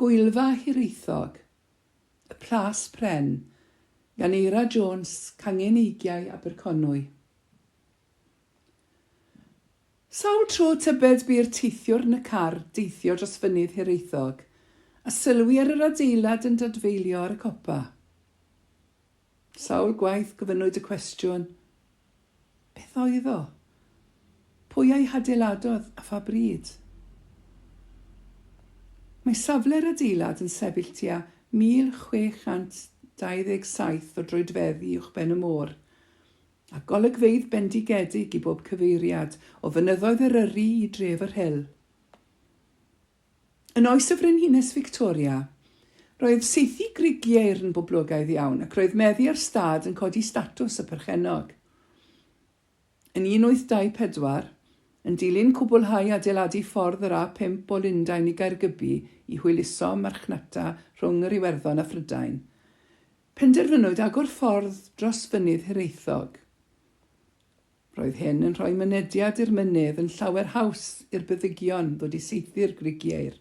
Gwyddfa Hiraethog, Y Plas Pren, gan Eira Jones, Cangen Eigiau, Aberconwy. Sawl tro tybed bu'r teithiwr yn y car deithio dros Fynydd Hiraethog a sylwi ar yr adeilad yn dadfeilio ar y copa? Sawl gwaith gofynnwyd y cwestiwn, Beth oedd o? Pwy a'i hadeiladodd a pha bryd? Mae safle'r adeilad yn sefyll tua 1,627 o droedfeddi uwchben y môr, a golygfeydd bendigedig i bob cyfeiriad o Fynyddoedd Eryri i dref yr Rhyl. Yn oes y Frenhines Fictoria, roedd saethu grigiaeir yn boblogaidd iawn ac roedd meddu ar stad yn codi statws y perchennog. Yn 1824, yn dilyn cwblhau adeiladu ffordd yr A5 o Lundain i Gaergybi i hwyluso marchnata rhwng yr Iwerddon a Phrydain, penderfynwyd agor ffordd dros Fynydd Hiraethog. Roedd hyn yn rhoi mynediad i'r mynydd yn llawer haws i'r byddigion ddod i saethu'r grigiaur.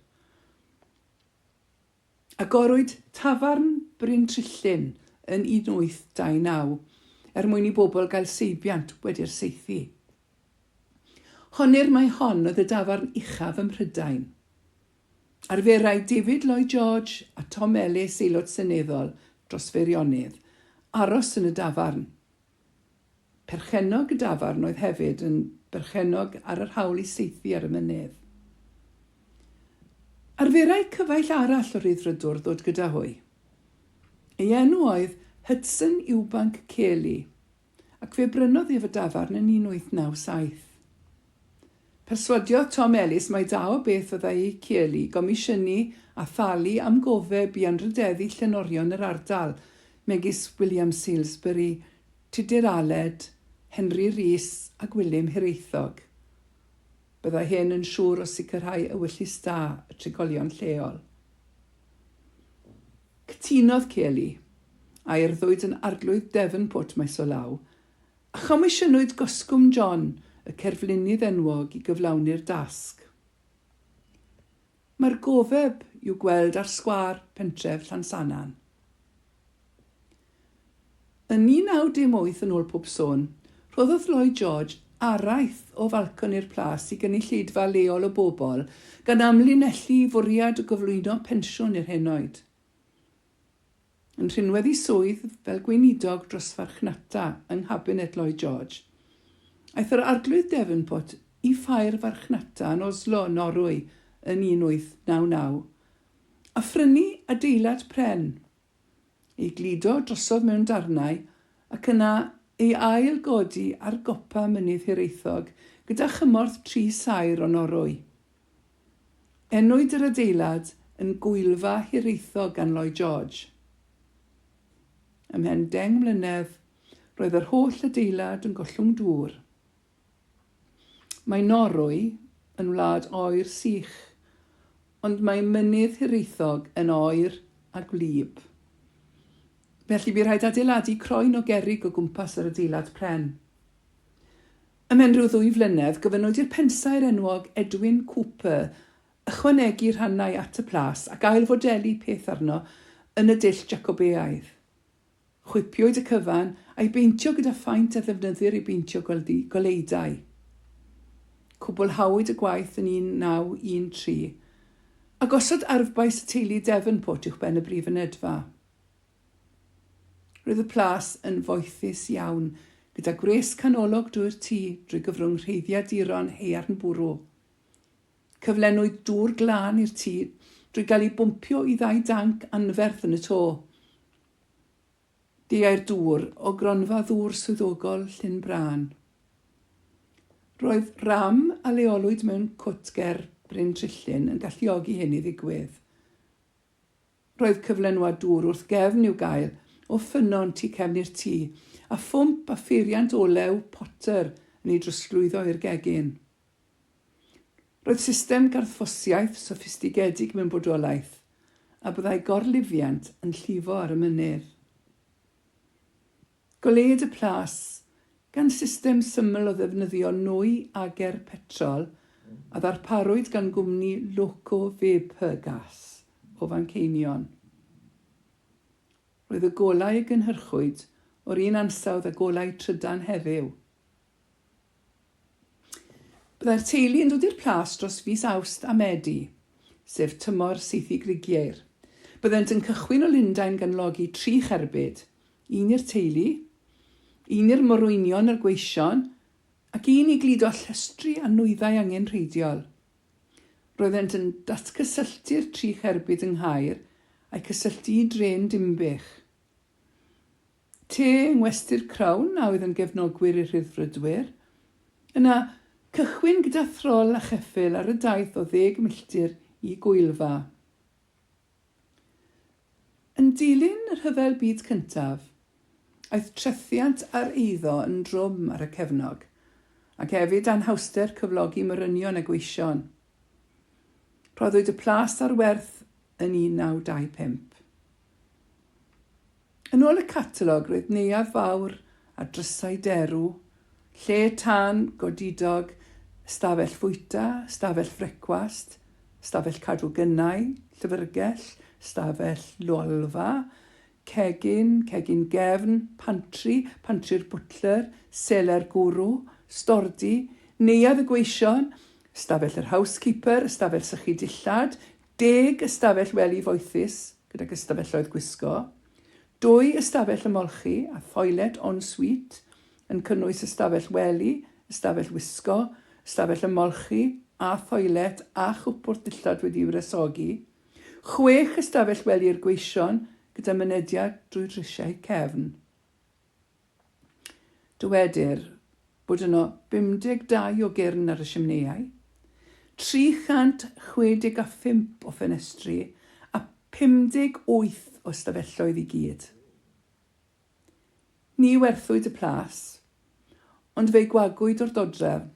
Agorwyd tafarn Bryn Trillyn yn 1829 er mwyn i bobl gael seibiant wedi'r saethu. Honnir mai hon oedd y dafarn uchaf ym Mhrydain. Arferai David Lloyd George a Tom Ellis, Aelod Seneddol dros Feirionnydd, aros yn y dafarn. Perchennog y dafarn oedd hefyd yn berchennog ar yr hawl i saethu ar y mynydd. Arferai cyfaill arall o Rhyddfrydwr ddod gyda hwy. Ei enw oedd Hudson Ewbank Cayley, ac fe brynodd ef y dafarn yn 1897. Perswadiodd Tom Ellis mai da o beth fyddai Kiely gomisiynu a thalu am gofeb i anrhydeddu llenorion yr ardal, megis William Salesbury, Tudur Aled, Henry Rees a Gwilym Hiraethog. Byddai hyn yn siŵr o sicrhau ewyllys da y trigolion lleol. Cytunodd Kiely, a urddwyd yn Arglwydd Devonport maes o law, Chomisiynwyd Goscwm John, y cerflunydd enwog, i gyflawni'r dasg. Mae'r gofeb i'w gweld ar sgwâr pentref Llansannan. Yn 1918, yn ôl pob sôn, rhoddodd Lloyd George araith o falconi'r Plas i gynulleidfa leol o bobl, gan amlinellu ei fwriad o gyflwyno pensiwn i'r henoed. Yn rhinwedd i swydd fel Gweinidog dros Farchnata yng Nghabinet Lloyd George, aeth yr Arglwydd Devonport i Ffair Farchnata yn Oslo, Norwy yn 1899, a phrynu adeilad pren, ei gludo drosodd mewn darnau ac yna ei ail-godi ar gopa Mynydd Hiraethog gyda chymorth tri saer o Norwy. Enwyd yr adeilad yn Gwyddfa Hiraethog gan Lloyd George. Ymhen deng mlynedd, roedd yr holl adeilad yn gollwng dŵr. Mae Norwy yn wlad oer sych, ond mae Mynydd Hiraethog yn oer a gwlyb. Felly bu rhaid adeiladu croen o gerrig o gwmpas yr adeilad pren. Ymhen rhyw ddwy flynedd, gofynnwyd i'r pensaer enwog Edwin Cooper ychwanegu rhannau at y plas ac ail-fodelu peth arno yn y dull Jacobeaidd. Chwipiwyd y cyfan, a'i beintio gyda phaent a ddefnyddir i beintio gwely goleudai. Cwblhawyd y gwaith yn 1913, a gosod arfbais y teulu Devonport uwchben y brif fynedfa. Roedd y plas yn foethus iawn, gyda gwres canolog drwy'r tŷ drwy gyfrwng rheiddiaduron haearn bwrw. Cyflenwyd dŵr glân i'r tŷ drwy gael ei bwmpio i ddau danc anferth yn y to. Deuai'r dŵr o gronfa ddŵr swyddogol Llyn Brân. Roedd ram a leolwyd mewn cwt ger Bryn Trillyn yn galluogi hyn i ddigwydd. Roedd cyflenwad dŵr wrth gefn i'w gael o ffynnon tu cefn i'r tŷ, a phwmp a pheiriant olew Potter yn ei drosglwyddo i'r gegin. Roedd system garthffosiaeth soffistigedig mewn bodolaeth, a byddai gorlifiant yn llifo ar y mynydd. Goleued y Plas, gan system syml o ddefnyddio nwy ager petrol a ddarparwyd gan gwmni Loco Vapor Gas o Fanceinion. Roedd y golau a gynhyrchwyd o'r un ansawdd â golau trydan heddiw. Byddai'r teulu yn dod i'r Plas dros fis Awst a Medi, sef tymor saethu grigiair. Byddent yn cychwyn o Lundain gan logi tri cherbyd, un i'r teulu, un i'r morwynion a'r gweision, ac un i gludo llestri a nwyddau angenrheidiol. Roeddent yn datgysylltu'r tri cherbyd yng Nghaer a'u cysylltu i drên Dinbych. Te yng Ngwesty'r Crown a oedd yn gefnogwyr i'r Rhyddfrydwyr. Yna, cychwyn gyda throl a cheffyl ar y daith o ddeg milltir i Gwyl-fa. Yn dilyn y Rhyfel Byd Cyntaf, aeth trethiant a'r eiddo yn drwm ar y cefnog, ac hefyd anhawster cyflogi morynion a gweision. Rhoddwyd y plas ar werth yn 1925. Yn ôl y catalog roedd Neuadd Fawr a drysau derw, lle tân godidog, ystafell fwyta, ystafell frecwast, ystafell cadw gynnau, llyfrgell, ystafell lolfa, cegin, cegin gefn, pantri, pantri'r bwtler, seler gwrw, stordy, neuadd y gweision, ystafell yr housekeeper, ystafell sychu dillad, Deg ystafell wely foethus gydag ystafelloedd gwisgo, dwy ystafell ymolchi a thoiled en suite yn cynnwys ystafell wely, ystafell wisgo, ystafell ymolchi a thoiled â chwpwrdd dillad wedi'i wresogi, chwech ystafell wely i'r gweision gyda mynediad drwy drisiau cefn. Dywedir bod yno 52 o gyrn ar y simneiau, 365 o ffenestri a 58 o ystafelloedd i gyd. Ni werthwyd y plas, ond fe'i gwagwyd o'r dodrefn.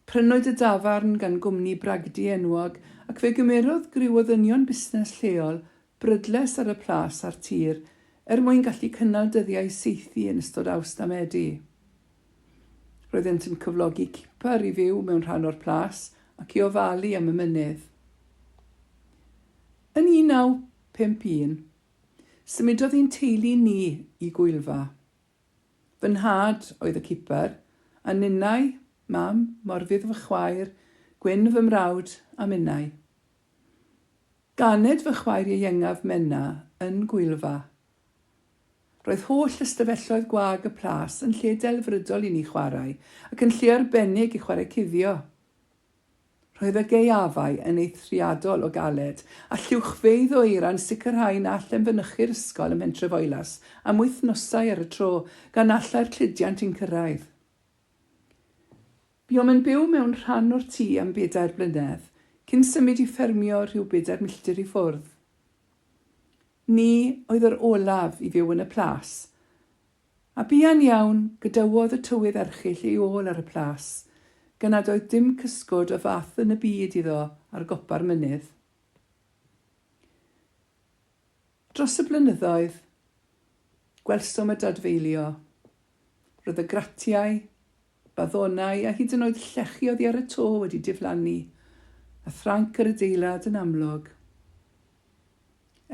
Prynwyd y dafarn gan gwmni bragdy enwog ac fe gymerodd griw o ddynion busnes lleol brydles ar y plas a'r tir er mwyn gallu cynnal dyddiau saethu yn ystod Awst a Medi. Roeddent yn cyflogi cipar i fyw mewn rhan o'r plas ac i ofalu am y mynydd. Yn 1951, symudodd ein teulu ni i Gwyl Fa. Fy nhad oedd y cipar, a ninnau, Mam, Morfudd fy chwaer, Gwyn fy mrawd, a minnau. Ganed fy chwaer ieuengaf Menna yn Gwyl-fa. Roedd holl ystafelloedd gwag y plas yn lle delfrydol i ni chwarae, ac yn lle arbennig i chwarae cuddio. Roedd y gaeafau yn eithriadol o galed, a lluwchfeydd o eira'n sicrhau na allem fynychu'r ysgol ym Mhentrefoelas am wythnosau ar y tro, gan na allai'r cludiant i'n cyrraedd. Buom yn byw mewn rhan o'r tŷ am bedair blynedd, cyn symud i ffermio rhyw bedair milltir i ffwrdd. Ni oedd yr olaf i fyw yn y Plas, A buan iawn, gadawodd y tywydd erchyll ei ôl ar y plas, gan nad oedd dim cysgod o fath yn y byd iddo ar gopa'r mynydd. Dros y blynyddoedd, gwelsom y dadfeilio. Roedd y gratiau, baddonau a hyd yn oed llechi oddi ar y to wedi diflannu, a thranc yr adeilad yn amlwg.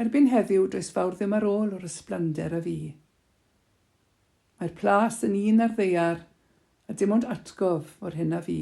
Erbyn heddiw, does fawr ddim ar ôl o'r ysblander a fu. Mae'r plas yn un ar ddaear, a dim ond atgof o'r hyn a fu.